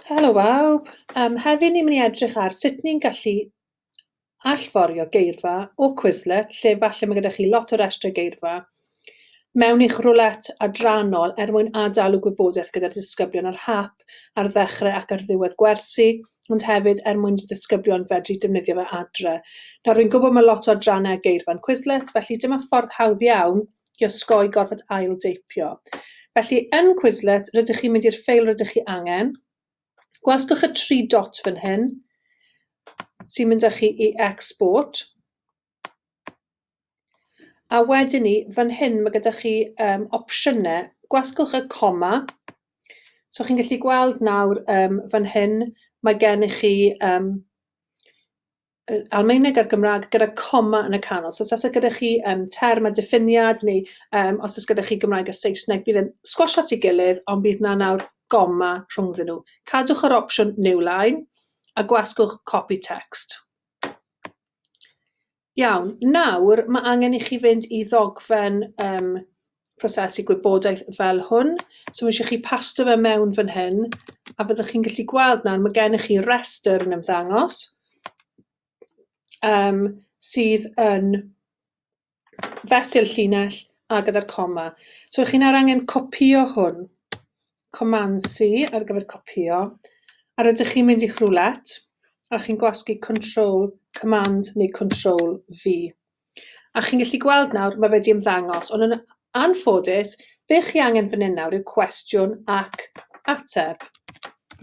Helo bawb, yym heddiw ni'n mynd i edrych ar sut ni'n gallu allforio geirfa o Quizlet lle falle ma' gyda chi lot o restrau geirfa mewn i'ch roulette adrannol er mwyn ad-dalu gwybodaeth gyda'r disgyblion ar hap ar ddechrau ac ar ddiwedd gwersi ond hefyd er mwyn i'r disgyblion fedru defnyddio fe adre. Nawr fi'n gwybod ma' lot o adrannau ar geirfa'n Quizlet felly dyma ffordd hawdd iawn i osgoi gorfod ail-deipio. Felly, yn Quizlet, rydych chi'n mynd i'r ffeil rydych chi angen, gwasgwch y tri dot fan hyn, sy'n mynd â chi i export, a wedyn ni, fan hyn, mae gyda chi um, opsiynau. Gwasgwch y coma. So chi'n gallu gweld nawr um, fan hyn, mae gen i chi um, yy Almaeneg a'r Gymrâg gyda coma yn y canol. So os o's e gyda chi yym term a diffiniad neu yym os o's gyda chi Gymraeg a Saesneg bydd e'n sgwasio at 'i gilydd ond bydd 'na nawr goma rhwngddyn nhw. Cadwch yr opsiwn New Line a gwasgwch Copy Text. Iawn, nawr mae angen i chi fynd i ddogfen um, prosesu gwybodaeth fel hwn. So mae eisiau chi pasto fe mewn fan hyn, a byddwch chi'n gallu gweld nawr, mae gennych chi restr yn ymddangos, um, sydd yn fesul llinell a gyda'r coma. So chi'n ar angen copio hwn, command C ar gyfer copio, a rydych chi'n mynd i'ch roulette, a chi'n gwasgu control, command neu control V. A chi'n gallu gweld nawr, mae fe 'di ymddangos, ond yn anffodus, be chi angen fan hyn nawr yw cwestiwn ac ateb.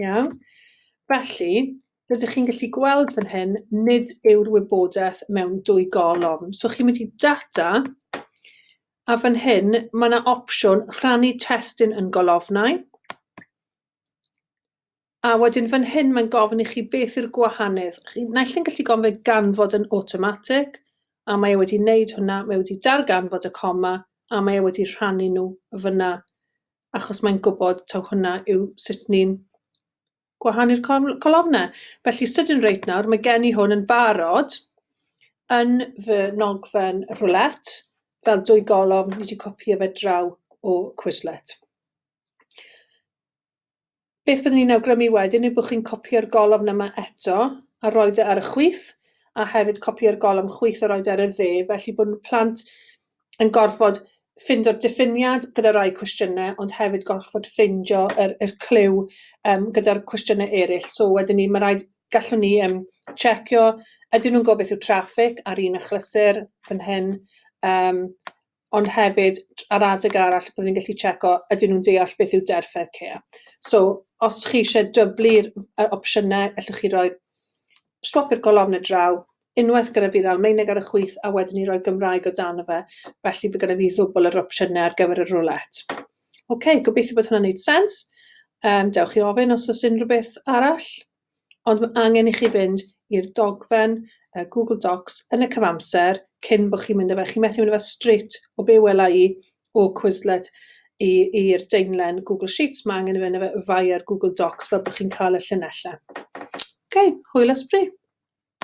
Iawn? Felly, rydych chi'n gallu gweld fan hyn, nid yw'r wybodaeth mewn dwy golofn. So chi'n mynd i data, a fan hyn, mae yna opsiwn rhannu testun yn golofnau. A wedyn fan hyn mae'n gofyn i chi beth yw'r gwahaniaeth. Chi, naill yn gallu gofyn ganfod yn automatic, a mae e wedi wneud hwnna, mae wedi darganfod y coma, a mae e wedi rhannu nhw fyna, achos mae'n gwybod taw hwnna yw sut ni'n gwahanu'r colofnau. Felly, sydyn reit nawr, mae gen i hwn yn barod yn fy nogfen roulette, fel dwy golofn, ni wedi copio fe draw o Quizlet. Beth byddwn i'n awgrymu wedyn yw bod chi'n copïo'r golofn yma eto a rhoi e ar y chwith, a hefyd copïo'r golofn chwith a rhoi e ar y dde, felly bod plant yn gorfod ffindo'r diffiniad gyda rai cwestiynau, ond hefyd gorfod ffeindio yr, yr clyw um, gyda'r cwestiynau eraill. So wedyn ni, mae rhaid, gallwn ni um, checio, ydyn nhw'n gwybod beth yw traffig ar un achlysur fan hyn, um, ond hefyd ar adeg arall byddwn ni'n gallu checo ydyn nhw'n deall beth yw deddf Fair Care. So, os chi eisiau dyblu'r yy opsiynau, allwch chi roi swap i'r golofnau draw, unwaith gyda fi'r Almaeneg ar y chwith, a wedyn ni roi Gymraeg o dan o fe, felly bydd gyda fi ddwbl yr opsiynau ar gyfer y roulette. OK, gobeithio bod hwnna'n neud sens. Um, dewch i ofyn os oes unrhyw beth arall. ond ma' angen i chi fynd i'r dogfen yy Google Docs yn y cyfamser cyn bo' chi'n mynd â fe chi'n methu mynd â fe strêt o be' wela i o Quizlet i i'r daenlen Google Sheets ma' angen i fe yna fe via Google Docs fel bo' chi'n ca'l y llinelle. Oce, hwyl ysbri!